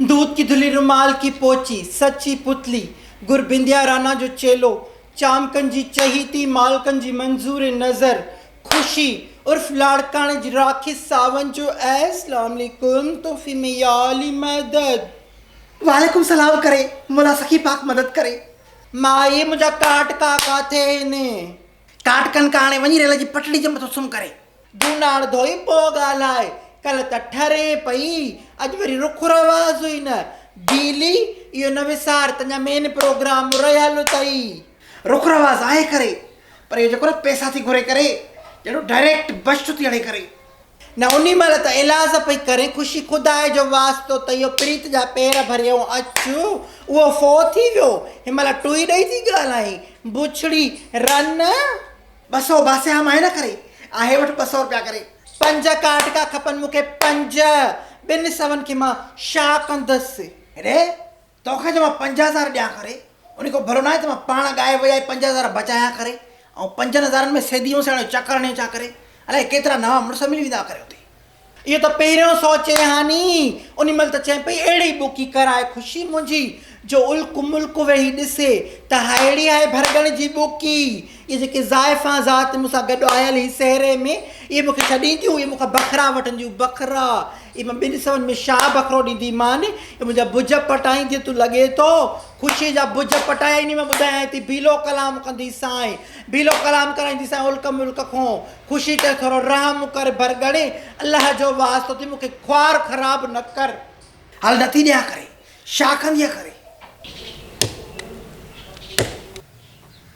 دود ڪي دھلي رومال ڪي پوچي، سچي پتلي، گر بنديا رانا جو چيلو، چامڪن جي چهيتي، مالڪن جي منظور نظر، خوشي عرف لاڙڪاڻي جي راکي ساون جو اي اسلام عليڪم تحفي ۾ يا علي مدد. وعليڪم سلام ڪري مولا سخي پاڪ مدد ڪري. مائي منهنجا ڪاٽ ڪاڪا ٿين. ڪاٽ ڪن ڪاهڻي وڃي ريل جي پٽڙي جي مٿو سم ڪري. ڌوناڻ ڌوئي پو ڳالهاء، ڪلهه ته ٺرين پئي، اڄ وري رک رواز هئي نه. جيلي، اهو نه وسار تنهنجا مين پروگرام رهيل اٿئي. رک رواز آهي خير، پر اهو جيڪو نه پئسا ٿي گهري ڪري، جهڙو ڊائريڪٽ بش ٿو ٿي هڻي ڪري. نه انهي مهل ته ايلاز پئي ڪرين خوشي خدا جو واسطو ته اهو پريت جا پير ڀريون اڇ اهو فو ٿي ويو هن مهل ٽوئي ڏئي ٿي ڳالهائين بڇڙي رن. ٻه سو باسي ها ماهي نه ڪري آهي وٺ ٻه سو روپيا ڪري. پنج ڪاٽڪا کپن مون کي پنج ٻن سون کي مان شا ڪندس ري. تو کان جو مان پنج هزار ڏيان کري، انهي کان ڀلو ناهي ته مان پاڻ ڳائي وڄائي پنج هزار بچايان کري، ۽ پنجن هزارن ۾ سيدي ۽ سياڻي جو چڪر هڻي اچان کري، الائي ڪيترا نوان مڙس ملي ويندا کري اتي. اهو ته پهريون سوچي ها ني، انهي مهل ته چئين پئي اهڙي ٻوڪي ڪرائي خوشي منهنجي، جو الڪ ملڪ ويهي ڏسي ته هائڙي هائي ڀرڳڻ جي ٻوڪي. اهي جيڪي زائفان ذات مون سان گڏ آيل هي سهري ۾، اهي مون کي ڇڏينديون، اهي مون کان بکرا وٺنديون، بکرا! اي مان ٻن سون ۾ شاهه بکرو ڏيندي مان، اي منهنجا بج پٽائيندينء، تون لڳي ٿو خوشيء جا بج پٽايائين، اي مان ٻڌايائين ٿي، ڀيلو ڪلام ڪندي سانء، ڀيلو ڪلام ڪرائيندي سانء الڪ ملڪ کون، خوشي ته ٿورو رحم ڪر ڀرڳڙي، الله جو واسطو ٿي مون کي خوار خراب نه ڪر. هل نٿي ڏيان ڪري، شاهه ڪندينء ڪري.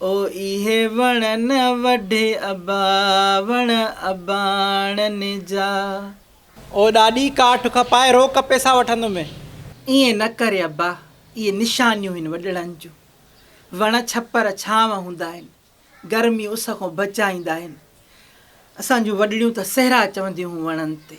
او اهي وڻ نه وڍي ابا، وڻ اباڻن جا. او ڏاڏي ڪاٺ کپائي روڪ پئسا وٺندو مين. ائين نه ڪري ابا، اهي نشانيون هن وڏڙن جون. وڻ ڇپر ڇانو هوندا آهن، گرمي اس کان بچائيندا آهن. اسان جون وڏڙيون ته سهرا چونديون هيون وڻن تي.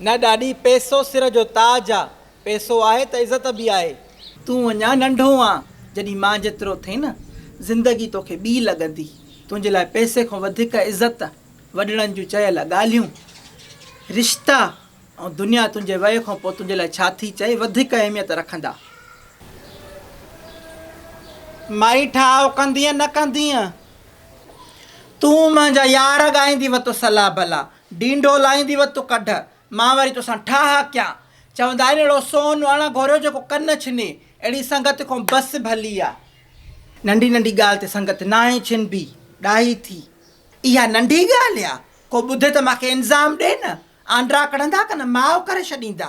نه ڏاڏي پئسو سر جو تاج آ. پئسو آهي ته عزت به آهي. تون اڃا ننڍو آن، جڏهن مان جيترو ٿين، زندگي توکي ٻي لڳندي. تنهنجي لاء پئسي کان وڌيڪ عزت، وڏڙن جون چيل ڳالهيون، رشتا ۽ دنيا تنهنجي وئي کان پوء تنهنجي لاء ڇا ٿي چئي، وڌيڪ اهميت رکندا. مائي ٺاء ڪندينء نه ڪندينء. تون منهنجا يار ڳائيندي وتو صلاح بلاح. ڊينڍو لائيندي وتو ڪڍ، مان وري توسان ٺاهه ڪيان. چوندا آهن اهڙو سون اڻ گهوريو جيڪو ڪن ڇني، اهڙي سنگت کون بس ڀلي آ. ننڍي ننڍي ڳالهه تي سنگت ناهي ڇنبي، ڏاهي ٿي. اها ننڍي ڳالهه آ، ڪو ٻڌي ته مان کي انظام ڏي نه، آنڊرا ڪڙهندا ڪن ماء ڪري ڇڏيندا.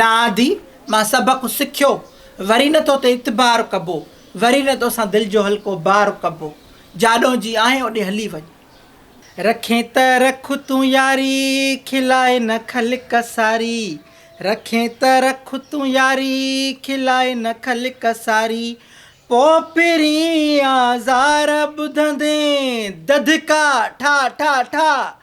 نادي، مان سبق سکيو، وري نه تو تي اعتبار ڪبو، وري نه توسان دل جو هلڪو بار ڪبو، جاڏو جي آهين اوڏي هلي وڃ. رکين ته رک تون ياري، کلائي نه خلق ساري، رکين ته رک تون ياري، کلائي نه خلق ساري، پوء پرين آزار ٻڌندين دڌڪا ٺا ٺا ٺا.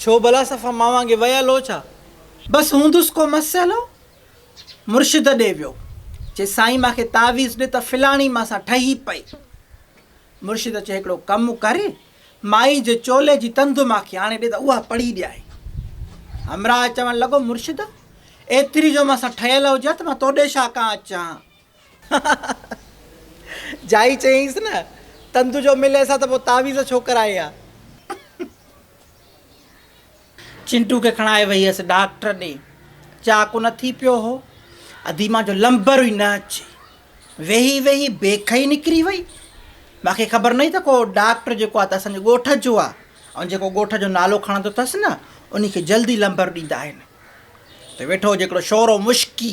ڇو ڀلا صفا مان وانگي ويل هو ڇا؟ بس هوندس ڪو مسئلو؟ مرشد ڏي ويو. چيس سائين مان کي تعويذ ڏي ته فلاڻي مان سان ٺهي پئي. مرشد چيو هڪڙو ڪم ڪر مائي جي چولي جي تند مان کي آڻي ڏي ته اها پڙهي ڏيانء. همراهه چوڻ لڳو مرشد ايتري جو مان سان ٺهيل هجي ها ته مان توڏي ڇا ڪان اچان ها. جائي چيائينس نه تند جو مليس ها ته پوء تعويذ ڇو ڪرائي ها. چنڊو کي کڻائي وئي هيس ڊاڪٽر ڏي. چاڪو نه ٿي پيو هو. اديما جو لنبر ئي نه اچي. ويهي ويهي بيک ئي نڪري وئي. مان کي خبر نه هئي ته ڪو ڊاڪٽر جيڪو آهي ته اسان جي ڳوٺ جو آهي ۽ جيڪو ڳوٺ جو نالو کڻندو اٿس نه انهي کي جلدي لنبر ڏيندا آهن. اتي ويٺو هجي هڪڙو شورو مشڪي.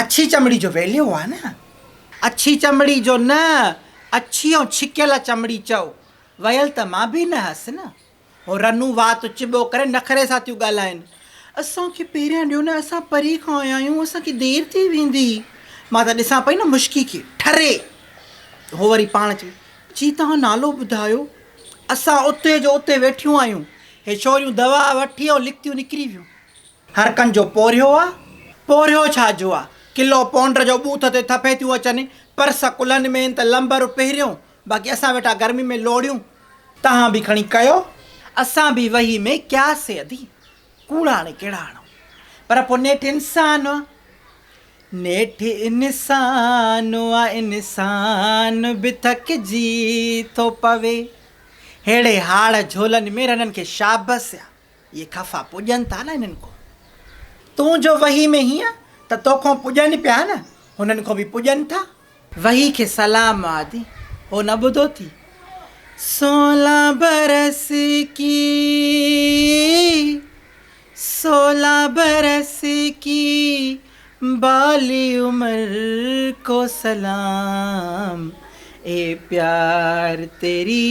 اڇي چمڙي جو ويليو آ نه. اڇي چمڙي جو نه اڇي ۽ ڇڪيل چمڙي چئو ويل ته مان به نه هئس نه. هو رنون وات چٻو ڪري نخري سان ٿيون ڳالهائين. اسان کي پهريان ڏيو نه اسان پري کان آيا آهيون اسان کي دير ٿي ويندي. مان ته ڏسان پئي نه مشڪي کي ٺري. هو وري پاڻ چئي جي توهان نالو ٻڌايو اسان اتي جو اتي ويٺيون آهيون. هي ڇوريون دوا وٺي ۽ لڪتيون نڪري ويون. هر ڪن جو پورهيو آ، پورهيو ڇا جو آ، ڪلو پونڊر جو ٻوٿ تي ٿڦي ٿيون اچن، پرس ڪلهن ۾ هن ته لنبر پهريون، باقي اسان ويٺا گرمي ۾ لوڙهيون. تهان به کڻي ڪيو، اسان به وهي ۾ ڪياسي ادي، ڪوڙا هاڻي ڪهڙا هڻون، پر پوء نيٺ انسان آ. نيٺ انسان آ، انسان به ٿڪجي ٿو پوي. ههڙي هاڙ جهولن ۾ رنن کي شابس آ. اهي خفا پڄن ٿا نه هنن کون. تون جو وحي ۾ هئين ته توکون پڄن پيا نه هنن کون به پڄن ٿا. وحي کي سلام آدي هو نه ٻڌو ٿي. سولهن برس ڪي سولهن برس ڪي بالي عمر ڪو سلام اي پيار تيري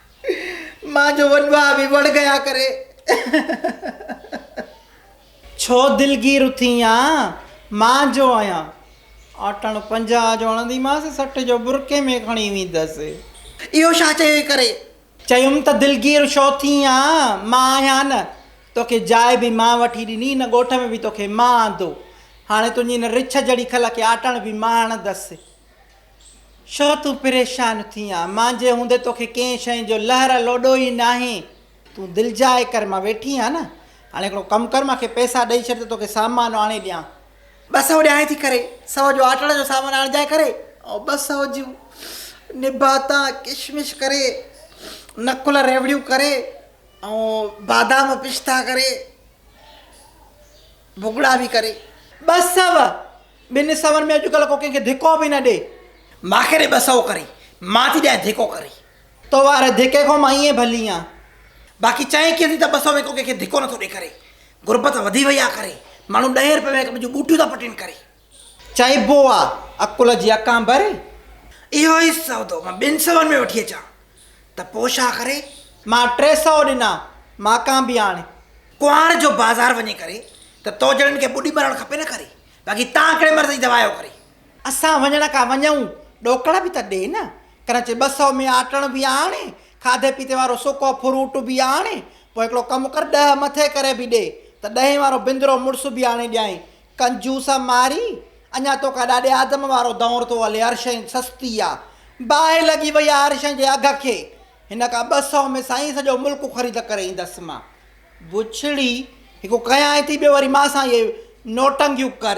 مان جو وڏڀاء به وڙ گيا ڪري. ڇو دلگير اٿين آ مان جو آهيان. آٽڻ پنجاهه جو هڻنديمانس سٺ جو برقعي ۾ کڻي ويندس. اهو ڇا چيوين ڪري. چيم ته دلگير ڇو ٿين آ مان آهيان نه توکي جاء به مان وٺي ڏني هن ڳوٺ ۾ به توکي مان آندو هاڻي تنهنجي هن رڇ جهڙي کل کي آٽڻ به مان هڻندس. ڇو تون پريشان ٿين آ؟ مانجهي هوندي توکي ڪنهن شيء جو لهر لوڏو ئي ناهي. تون دلجاء ڪر، مان ويٺي آهيان نه. هاڻي هڪڙو ڪم ڪر، مان کي پئسا ڏئي ڇڏ ته توکي سامان آڻي ڏيان. ٻه سئو ڏيانء ٿي ڪري سئو جو آٽڙ جو سامان آڻجانء ڪري ۽ ٻه سئو جون نباتان ڪشمش ڪري، نڪل ريوڙيون ڪري ۽ بادام پشتا ڪري. ڀڳڙا به ڪري ٻه سؤ، ٻن سون ۾ اڄڪلهه ڪو ڪنهن کي ڌڪو به نه ڏي. ماکيري ٻه سؤ ڪري، مان ٿي ڏيان ڌڪو ڪري. تو واري ڌڪي کان مان ائين ڀلي آهيان. باقي چئين ڪين ٿي ته ٻه سؤ ۾ ڪو ڪنهن کي ڌڪو نٿو ڏي ڪري. غربت وڌي وئي آهي ڪري. ماڻهو ڏهين روپين ۾ هڪٻئي جون ٻوٽيون ٿا پٽين ڪري. چئبو آ عقل جي اڪامبر. اهو ئي سودو مان ٻن سون ۾ وٺي اچان ته پوء ڇا ڪري؟ مان ٽي سو ڏنا، ماڪان به آڻ. ڪهاڻ جو بازار وڃي ڪري ته تو جهڙن کي ٻڏي مرڻ کپي نه ڪري، باقي تان ڪهڙي مرض جي دوا آهيو ڪري؟ اسان وڃڻ ڪا وڃون، ڏوڪڙ به ته ڏي نه. ڪنهن چي ٻه سو ۾ آٽڻ به آڻ، کاڌي پيتي وارو سڪو فروٽ به آڻ، پوء هڪڙو ڪم ڪر ڏهه مٿي ڪري به ڏي ته ڏهين وارو بندرو مڙس به آڻي ڏيانء، ڪنجوس ماري، اڃا توکان ڏاڏي آدم وارو دؤر ٿو هلي، هر شيء سستي آ. باهه لڳي وئي آ هر شيء جي اگهه کي. هن کان ٻه سؤ ۾ سائين سڄو ملڪ خريد ڪري ايندس. مان بڇڙي هڪ ڪيانء ٿي، ٻيو وري مان سان اهي نوٽنگيون ڪر.